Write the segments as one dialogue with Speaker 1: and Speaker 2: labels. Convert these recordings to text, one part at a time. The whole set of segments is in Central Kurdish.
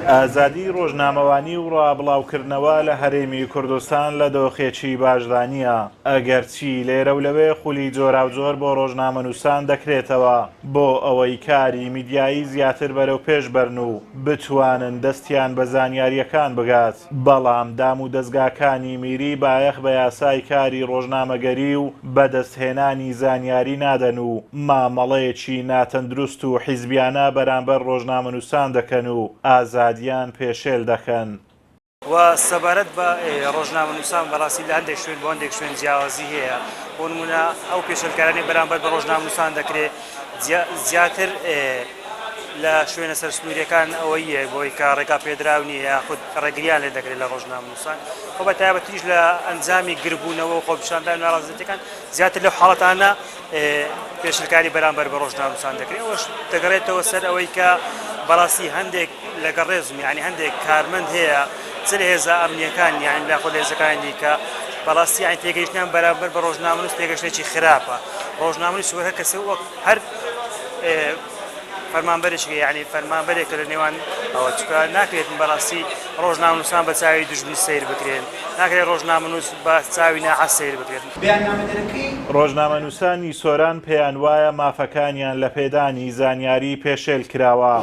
Speaker 1: ئازادی ڕۆژنامەوانی و ڕاابڵاوکردنەوە لە هەرێمی کوردستان لە دۆخێکی باشدا نییە، ئەگەرچی لێرە و لەوێ خولی جۆراوجۆر بۆ ڕۆژنامەنووسان دەکرێتەوە بۆ ئەوەی کاری میدیایی زیاتر بەرەوپێش بەرن و بتوانن دەستیان بە زانیارییەکان بگات. بەڵام دامودەزگاکانی میری بایەخ بە یاسای کاری ڕۆژنامەگەری و بەدەستهێنانی زانیاری نادەن و مامەڵەیەکی ناتەندروست و حیزبیانە بەرامبەر ڕۆژنامەنووسان دەکەن و ئازادیان پێشێل دەکەن. وە
Speaker 2: سەبارەت بە ڕۆژنامەنووسان بەڕاستی لە هەندێک شوێن بۆ هەندێک شوێن جیاوازی هەیە، بۆ نموونە ئەو پێشێلکارانەی بەرامبەر بە ڕۆژنامەنووسان دەکرێت زیاتر لە شوێنە سەرسنوورییەکان ئەوەی بۆی کە ڕێگا پێدراو نییە یاخود ڕێگرییان لێ دەکرێت لە ڕۆژنامەنووسان خۆ بە تایبەتیش لە ئەنجامی گربوونەوە و خۆپیشاندان ناڕازەتەکان زیاتر لەو حاڵەتانە پێشلکاری بەرامبەر بە ڕۆژنامەنووسان دەکرێت ئەوەش دەگەڕێتەوە سەر ئەوەی کە بەڕاستی هەندێک لەگەڵ ڕێزم یانی هەندێک کارمەند هەیە چ لە هێزە ئەمنیەکان یانی یاخود لە هێزەکانی دیکە بەڕاستی یانی تێگەیشتنیان بەرامبەر بە ڕۆژنامەنووس تێگەشتنێکی خراپە ڕۆژنامەنووس وەک هەر کەسێ وەک هەر فەرمانبەرێکی یعنی فەرمانبەرێک لە نێوان ئەوە چکە ناکرێت بەڕاستی ڕۆژنامەنووسان بە چاوی دژمنی سیر بکرێن ناکرێت ڕۆژنامەنووس بە چاوی ناحەز سیر بکرێن بەیاننامەدەرەکەی ڕۆژنامەنووسانی
Speaker 1: سۆران پێیانوایە مافەکانیان لە پێدانی زانیاری پێشێل کراوە.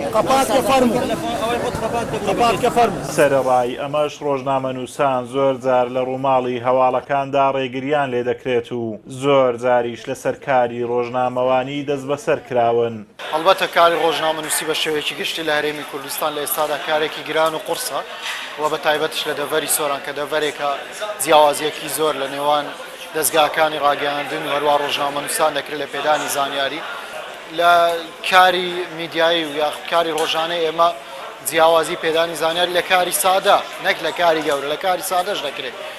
Speaker 1: سەرەڕای ئەمەش ڕۆژنامەنووسان زۆر جار لە ڕووماڵی هەواڵەکاندا ڕێگرییان لێدەکرێت و زۆر جاریش لەسەر کاری ڕۆژنامەوانی دەستبەسەر کراون. هەڵبەتە کاری
Speaker 3: ڕۆژنامەنووسی بە شێوەیەکی گشتی لە هەرێمی کوردستان لە ئێستادا کارێکی گران و قوڕسە و بە تایبەتیش لە دەڤەری سۆران کە دەڤەرێکە جیاوازییەکی زۆر لە نێوان دەزگاکانی ڕاگەیاندن و هەروەها ڕۆژنامەنووسان دەکرێت لە پێدانی زانیاری لە کاری میدیایی و یاخود کاری ڕۆژانەی ئێمە جیاوازی پێدانی زانیاری لە کاری سادە نەک لە کاری گەورە لە کاری سادەش دەکرێت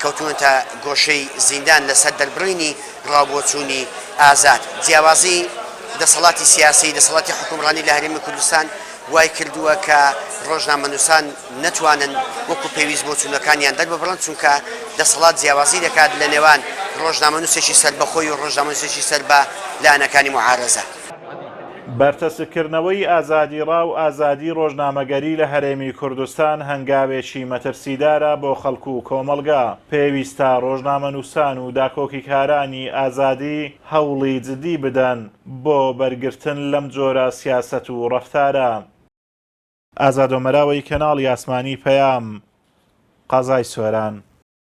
Speaker 4: کەوتوونەتە گۆشەی زیندان لەسەر دەربڕینی ڕاوبۆچوونی ئازاد. جیاوازی دەسەڵاتی سیاسی، دەسەڵاتی حوکمڕانی لە هەرێمی کوردستان وای کردووە کە ڕۆژنامەنووسان نەتوانن وەکو پێویست بۆچوونەکانیان دەرببڕن، چونکە دەسەڵات جیاوازی دەکات لە نێوان ڕۆژنامەنووسێکی سەربەخۆی و ڕۆژنامەنووسێکی سەر بە لایەنەکانی موعارەزە. بەرتەسککردنەوەی
Speaker 1: ئازادیڕا و ئازادی ڕۆژنامەگەری لە هەرێمی کوردستان هەنگاوێکی مەترسیدارە بۆ خەڵک و کۆمەڵگا، پێویستە ڕۆژنامەنووسان و داکۆکیکارانی ئازادی هەوڵی جدی بدەن بۆ بەرگرتن لەم جۆرە سیاسەت و ڕەفتارە. ئازادۆمەراوەی کەناڵی ئاسمانی پەیام، قەزای سۆران.